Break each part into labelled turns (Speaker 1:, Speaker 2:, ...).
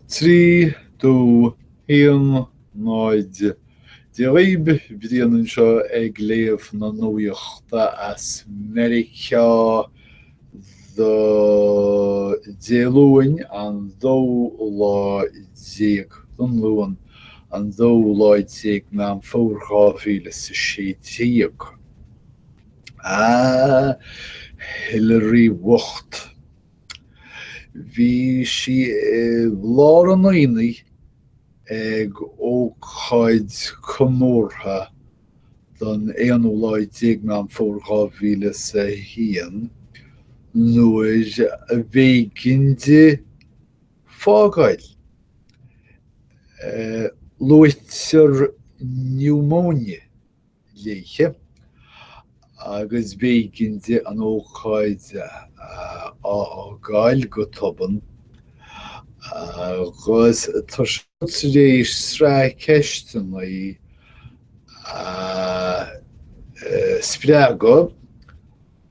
Speaker 1: Trí dó haon náid Dia daoibh Brian anseo ag léamh na nuachta as Meiriceá do Dé Luain an dóú lá déag don Luan an dóú lá déag Meán Fómhair dhá mhíle is a sé déag. A Hillary bhocht. Bhí sí i lár an aonaigh ag ócáid comórtha don aonú lá déag Meán Fómhair dhá mhíle is a haon nuair a b'éigean di fágáil. Luaitear niúmóine léithe, agus b'éigean di an ócáid a fhágáil go tobann agus tá sé tar éis sraith ceisteannaí a spreagadh.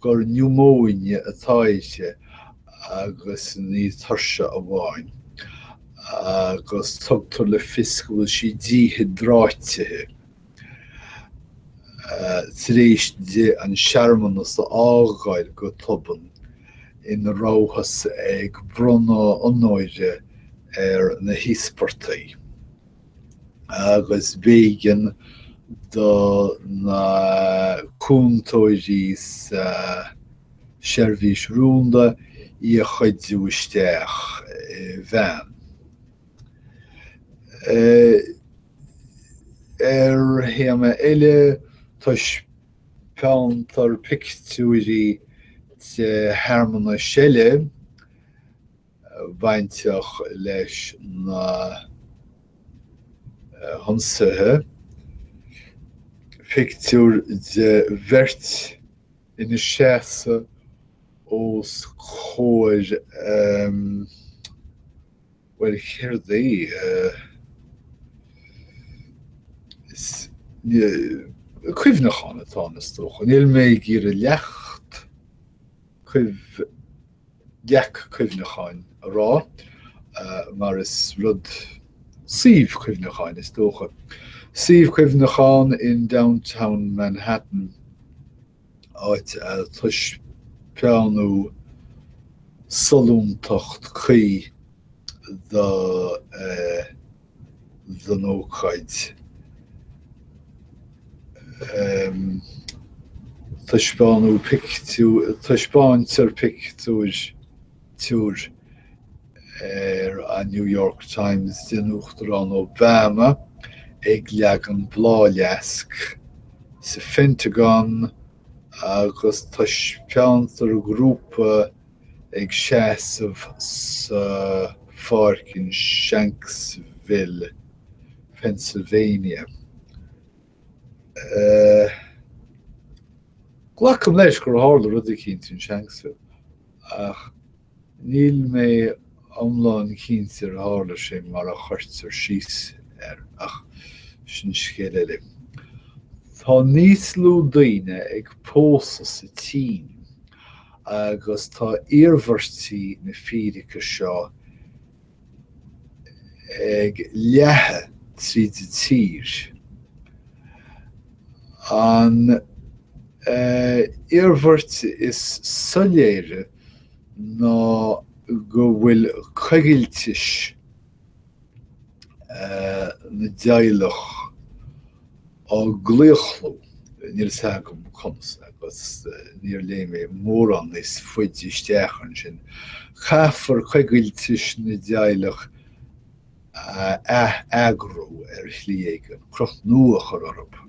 Speaker 1: gur niúmóine atá aici agus ní tuirse amháin, agus tugtar le fios go bhfuil sí díhiodráitithe. Tar éis di an searmanas a fhágáil go tobann ina rabhthas ag bronnadh onóra ar na híospartaigh, agus b'éigean do na cúntóirí sa tSeirbhís Rúnda í a chuidiú isteach i veain. Ar théama eile, taispeántar pictiúirí de shearmanais eile, bainteach leis na hionsaithe, pictiúr de bheirt ina seasamh os comhair bhuel céard é? cuimhneachán atá ann is dócha, níl mé ag iarraidh leacht cuimh. leacht cuimhneacháin a rá, mar is rud suíomh cuimhneacháin, is dócha. Suíomh cuimhneacháin in Downtown Manhattan, áit a taispeánadh sollúntacht cuí do. den ócáid. Taispeán pictiúr, taispeántar pictiúr ar an New York Times den Uachtarán Obama ag leagan bláthfhleasc sa Phentagon agus taispeántar grúpa ag seasamh sa pháirc in Shanksville, Pennsylvania. Glacaim leis gur tharla rud eicínt in Shanksville, ach níl mé iomlán cinnte ar tharla sé mar a chuirtear síos air, ach sin scéal eile. Tá níos lú daoine ag pósadh sa tSín agus tá iarmhairtí na fírice seo ag leathadh tríd an tír. An iarmhairt is soiléire ná go bhfuil coigiltis na dteaghlach á gclaochlú. Níl a fhios agam conas agus níor léigh mé mórán níos faide isteach ansin. Caithfear coigiltis na dteaghlach a atheagrú ar shlí éigin, cruth nua a chur orthu.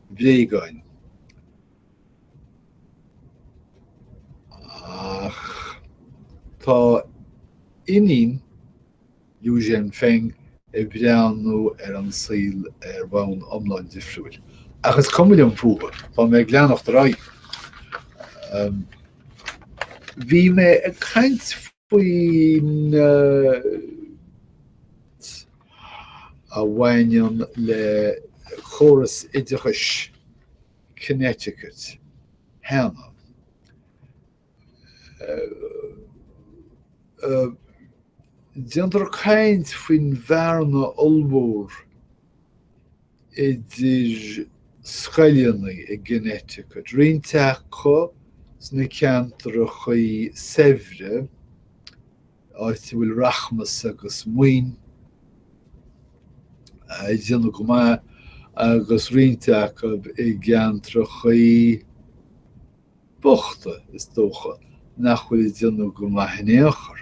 Speaker 1: bhréagáin. Ach tá iníon Liu Zhenfeng ag breathnú ar an saol ar bhonn iomlán difriúil. Ach is cuma liom fúthu, tá mé ag leanacht ar aghaidh. Bhí mé ag caint faoin alt a bhaineann le córas oideachais Connecticut cheana. Déantar caint faoin bhearna ollmhór idir scoileanna i gConnecticut, roinnt acu sna ceantracha saibhre, áit a bhfuil rachmas agus maoin ag déanamh go maith, agus roinnt acu i gceantracha bochta, is dócha, nach bhfuil ag déanamh go maith in aon chor.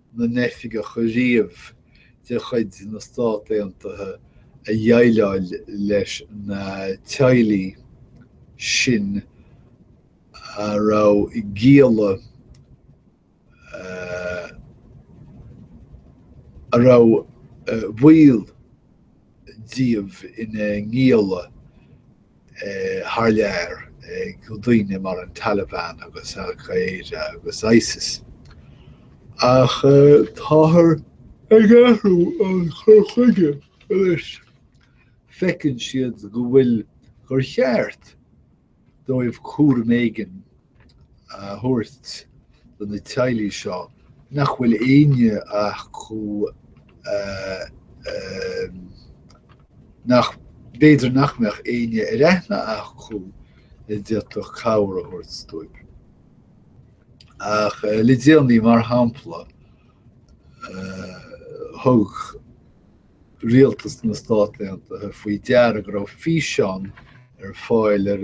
Speaker 1: na n-oifigeach riamh de chuid na Stát Aontaithe a dhéileáil leis na teaghlaigh sin a raibh gialla a raibh baill díobh ina ngialla. thar lear ag daoine mar an Taliban agus Al Qaeda agus Isis. Ach táthar ag athrú an chur chuige leis. Feiceann siad go bhfuil gur cheart dóibh cúram éigin a thabhairt do na teaghlaigh seo nach bhfuil éinne acu nach b'fhéidir nach mbeadh éinne ar aithne acu a d'fhéadfadh cabhair a thabhairt dóibh. Ach le déanaí, mar shampla, thug rialtas na Stát Aontaithe faoi deara go raibh físeán ar fáil ar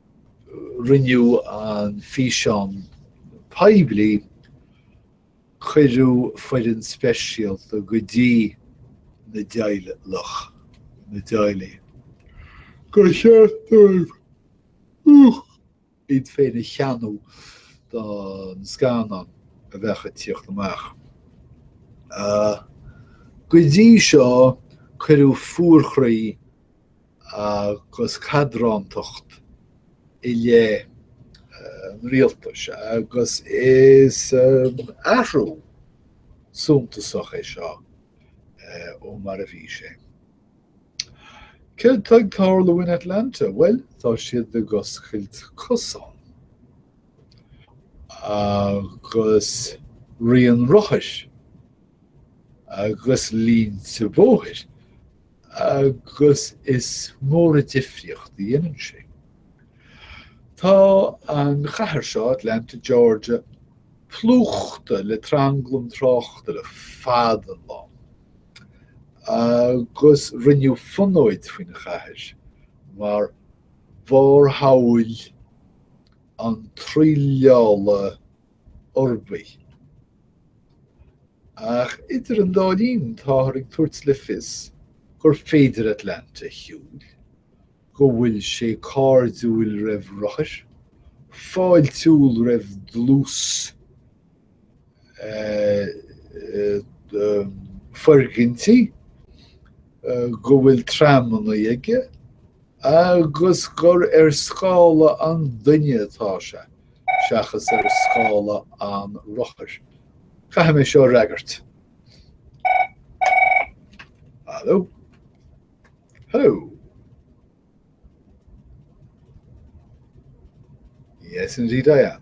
Speaker 1: rinneadh an físeán poiblí, cuireadh foireann speisialta go dtí na dteaghlach, na teaghlaigh, gur cheart dóibh iad féin a theannadh don scannán a bheadh ag tíocht amach. Go dtí seo, cuireadh fuarchroí agus cadrántacht i leith an Rialtais agus is athrú suntasach é seo ó mar a bhí sé. Céard tá ag tarlú in Atlanta? Bhuel, tá siad ag oscailt cosán agus rian rothair agus línte bóthair. agus is mór an difríocht a dhéanann sé. Tá an chathair seo, Atlanta, Georgia, plúchta le tranglam tráchta le fada an lá. agus rinneadh fonóid faoin chathair mar bharrshamhail an tsraoilleála uirbigh. Ach idir an dá linn, táthar ag tabhairt le fios gur féidir Atlanta a shiúil, go bhfuil sé cairdiúil roimh rothair, fáiltiúil roimh dlús foirgintí, go bhfuil tramanna aige agus gur ar scála an duine atá sé. seachas ar scála an rothair. Caithfidh mé seo a fhreagairt. Hello? Hello? Yes, indeed I am.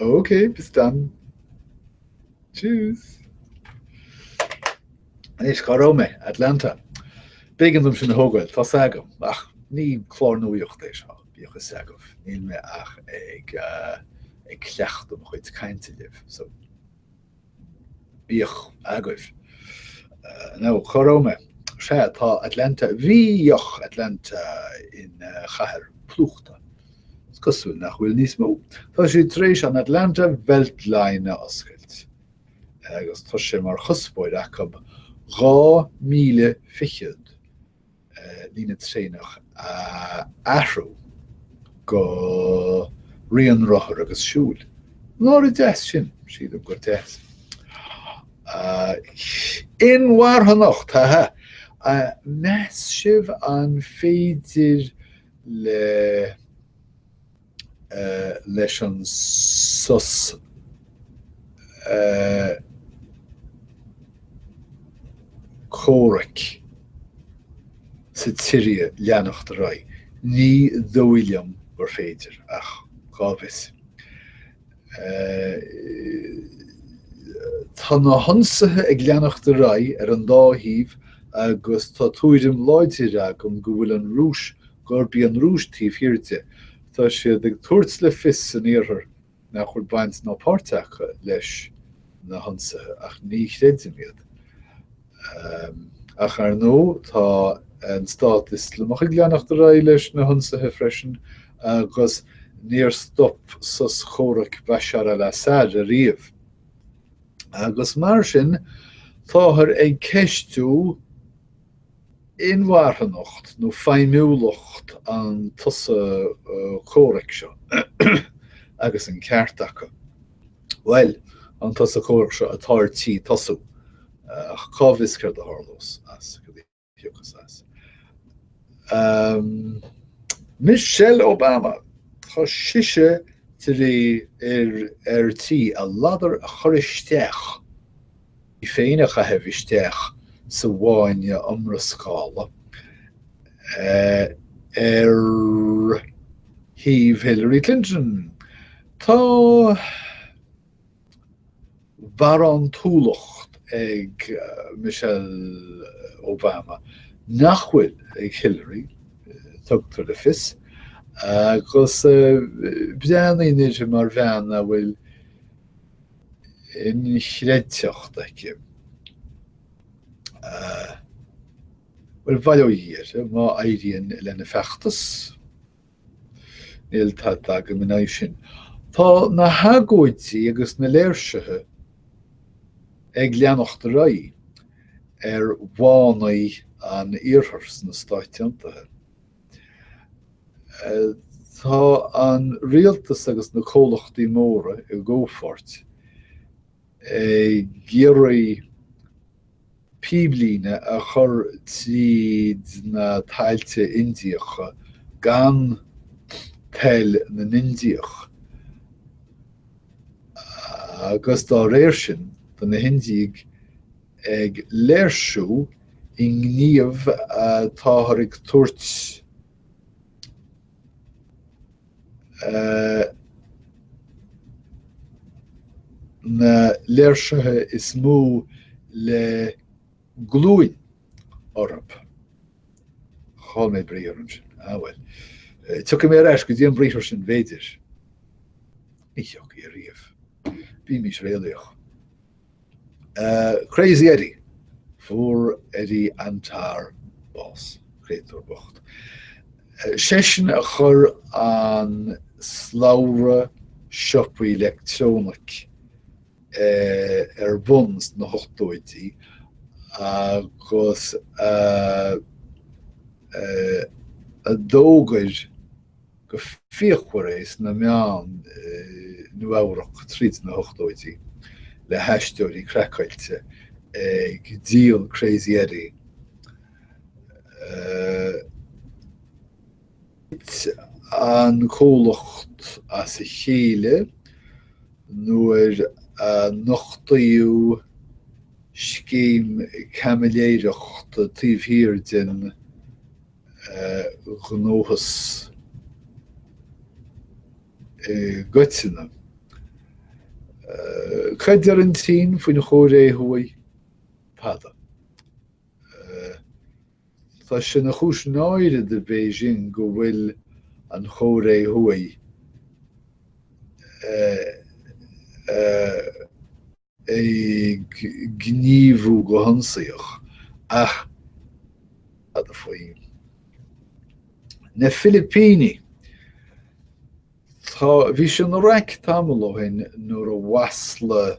Speaker 1: Ok, bis dann. Tschüss. Anois, cá raibh mé? Atlanta. B'éigean dom sin a thógáil, tá fhios agam, ach ní clár nuaíocht é seo, bíodh fhios agaibh, níl mé ach ag cleachtadh mo chuid cainte libh, so. Bíodh agaibh. Now, cá raibh mé? Sea, tá Atlanta, bhíodh Atlanta ina chathair phlúchta. Is cosúil nach bhfuil níos mó. Tá siad tar éis an Atlanta Beltline a oscailt agus tá sé mar chuspóir acu dhá mhíle fichead líne traenach a athrú go rian rothar agus siúil. Nár dheas sin, sílim gur deas. Inmharthanacht, haha! Meas sibh an féidir leis an sos comhraic sa tSiria leanacht ar aghaidh. Ní dóigh liom gur féidir, ach cá bhfios. Tá na hionsaithe ag leanacht ar aghaidh ar an dá thaobh agus tá tuairim láidir agam go bhfuil an Rúis gurb í an Rúis taobh thiar de. Tá siad ag tabhairt le fios san Iarthar nach bhfuil baint ná páirt acu leis na hionsaithe, ach ní chreidim iad. Ach ar ndóigh tá an Stát Ioslamach ag leanacht ar aghaidh leis na hionsaithe freisin agus níor stop sos comhraic Bashar al-Assad ariamh. Agus mar sin táthar ag ceistiú. inmharthanacht nó feidhmiúlacht an tsosa comhraic seo agus an ceart acu, bhuel, an tsosa comhraic seo atá ar tí tosú, ach cá bhfios céard a tharlós as, céard a thiocfas as. Michelle Obama, tá sise tar éis ar tí a ladar a chur isteach. í féin a chaitheamh isteach sa bhfáinne iomrascála ar thaobh Hillary Clinton. Tá barántúlacht ag Michelle Obama nach bhfuil ag Hillary, tugtar le fios, agus breathnaítear uirthi mar bhean a bhfuil, inchreidteacht aici. Bhuel, bail ó Dhia uirthi. Má éiríonn lena feachtas, níl tada agam ina aghaidh sin. Tá na hagóidí agus na léirsithe ag leanacht ar aghaidh ar bhánaigh an Iarthair sna Stáit Aontaithe. Tá an Rialtas agus na comhlachtaí móra i gcomhpháirt ag iarraidh píblíne a chur tríd na tailte Indiacha gan toil na nIndiach agus dá réir sin do na hIndiaigh ag léirsiú i ngníomh táthar ag tabhairt na léirsithe is mó le glúin orthu. Chaill mé briathar ansin. Ah bhuel. Tiocfaidh mé ar ais go dtí an briathar sin bfhéidir. Ní thiocfaidh a riamh. Bímís réalaíoch. Crazy Eddie! Fuair Eddie Antar bás. Créatúr bocht. Seisean a chuir an slabhra siopaí leictreonaic ar bun sna hochtóidí agus a d'fhógair go fíochmhar é sna meáin i Nua-Eabhrac tríd na hochtóidí le haisteoirí craiceáilte ag díol Crazy Eddie Thit an comhlacht as a chéile nuair a nochtaíodh scéim caimiléireachta taobh thiar den. ghnóthas i gcoitinne. Cad deir an tSín faoin Chóiré Thuaidh tada? Tá sé ina chúis náire do Bhéising go bhfuil an Chóiré Thuaidh ag gníomhú go hionsaíoch, ach fad faoi na Filipínigh, tá, bhí sé ina raic tamall ó shin nuair a mhaslaigh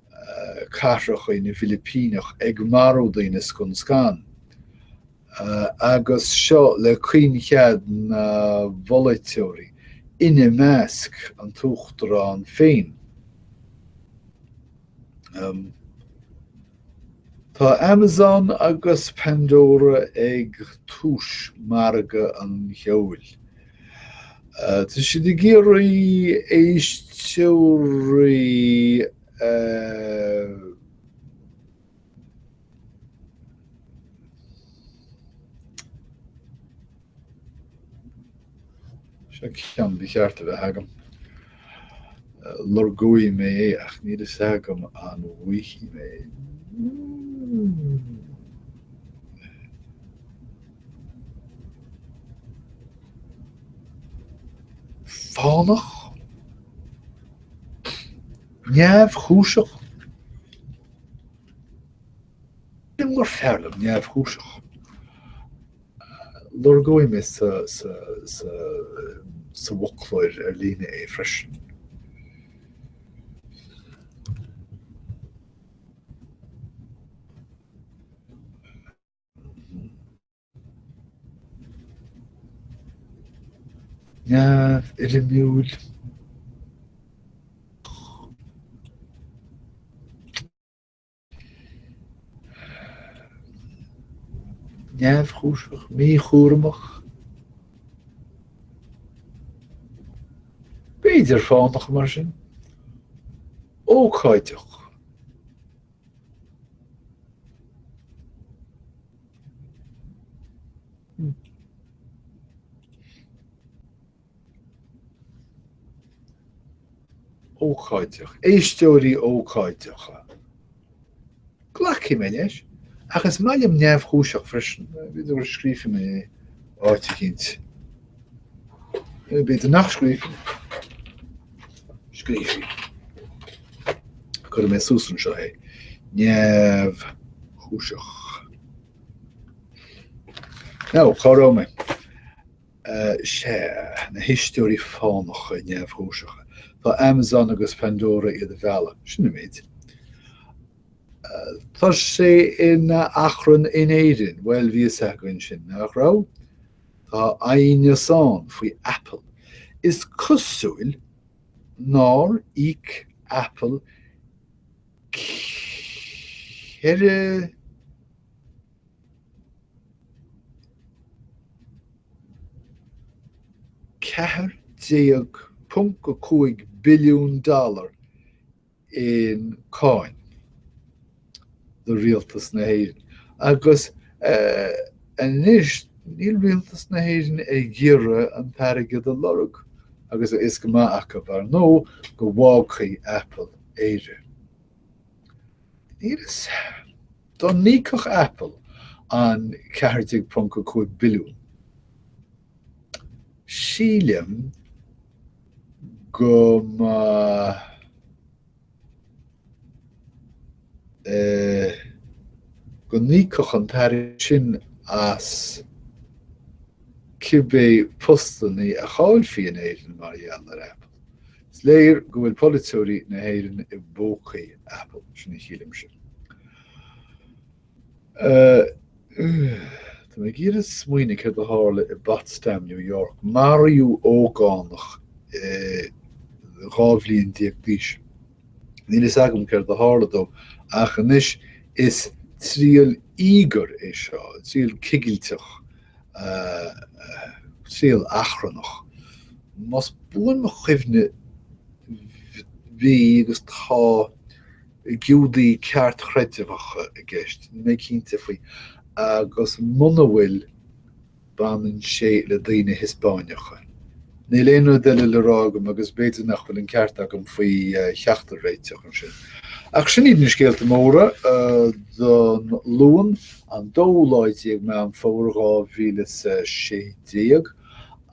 Speaker 1: cathracha na bhFilipíneach ag marú daoine scun scan, agus seo le caoinchead na bpolaiteoirí, ina measc an tUachtarán féin. Tá Amazon agus Pandora ag tús mhargadh an cheoil. Tá siad ag iarraidh éisteoirí a. Seo ceann ba cheart a bheith agam. Lorgóidh mé é ach níl a fhios agam an bhfaighidh mé. fánach, neamhchúiseach, B'fhéidir gur fearr liom neamhchúiseach. Lorgóidh mé sa bhfoclóir ar líne é freisin. neamhfhoirmiúil. neamhchúiseach, míchúramach. B'fhéidir fánach mar sin. Ócáideach. ócáideach, éisteoirí ócáideacha. Glacfaidh mé leis, ach is maith liom neamhchúiseach freisin, b'fhéidir go scríobhfaidh mé é áit eicínt. Cé b'fhéidir nach scríobhfadh, scríobhfaidh. Cuirfidh mé suas anseo é. Neamhchúiseach. Nó, cá raibh mé? Sea, na héisteoirí fánacha neamhchúiseacha. Tá Amazon agus Pandora iad a mhealladh, sin an méid. Tá sé ina achrann in Éirinn. Bhuel, bhí a fhios againn sin, nach raibh? Tá aighneas ann faoi Apple. Is cosúil nár íoc Apple $14.5 billiún. i gcáin do Rialtas na hÉireann agus anois níl Rialtas na hÉireann ag iarraidh an t-airgead a lorg agus a fhios go maith acu, ar ndóigh, go bhfágfaidh Apple Éire. Níl a fhios. Dá n-íocfadh Apple an 14.5 billiún. Sílim go mba é go n-íocfadh an t-airgead sin as cibé postannaí a chaillfí in Éirinn mar gheall ar Apple. Is léir go bhfuil polaiteoirí na hÉireann i bpócaí Apple, sin a shílimse. Tá mé ag iarraidh smaoineamh céard a tharla i bPotsdam, New York. Maraíodh ógánach dhá bhliain déag d'aois. Níl fhios agam céard a tharla dó ach anois is triail íogair é seo, triail chigilteach, triail achrannach. Más buan mo chuimhne bhí agus tá, Giúdaí Ceartchreidmheacha i gceist, níl mé cinnte faoi, agus muna bhfuil, baineann sé le daoine Hispáineacha. Níl aon rud eile le rá agam agus b'fhéidir nach bhfuil an ceart agam faoi cheachtar réiteach ansin. Ach sin iad na scéalta móra don Luan, an dóú lá déag Meán Fómhair dhá mhíle is a sé déag,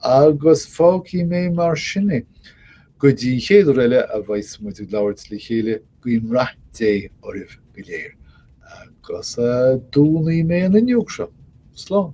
Speaker 1: agus fágfaidh mé mar sin é. Go dtí an chéad uair eile a bheas muid ag labhairt le chéile, guím rath Dé oraibh go léir agus dúnfaidh mé an fhuinneog seo. Slán.